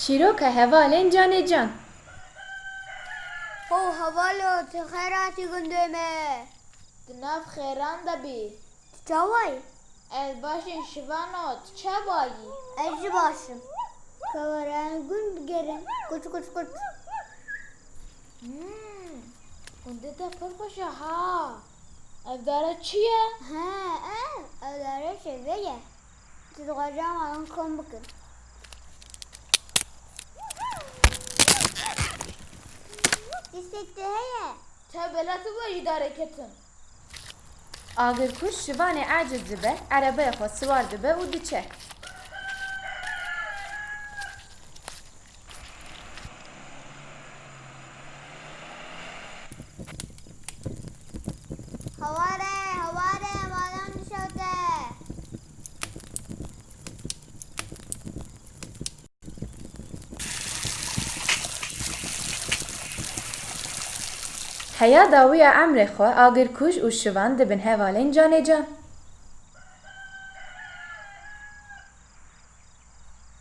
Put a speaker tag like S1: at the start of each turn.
S1: Çîroka hevalên canê can. Ho hevalo tu xeyratî gundê me. Di nav xêran de bî. Tu çawa yî? Ez baş im şivano tu çawa yî? Ez jî baş im. Keweran gund bigerin kuç kuç kuç. Hûn gundê te pir xweş e ha. Ev dare çi ye? He, ev, ev dare şevê ye. Tu dixwazî ew malin kom bikin. Dîsek te heye. Te bela tu be jî darê ketin. Agirkuj şivanê aciz dibe, erebeyê xwe siwar dibe û diçe. Heya dawiya emrê xwe agirkuj û şivan dibin hevalên canê can.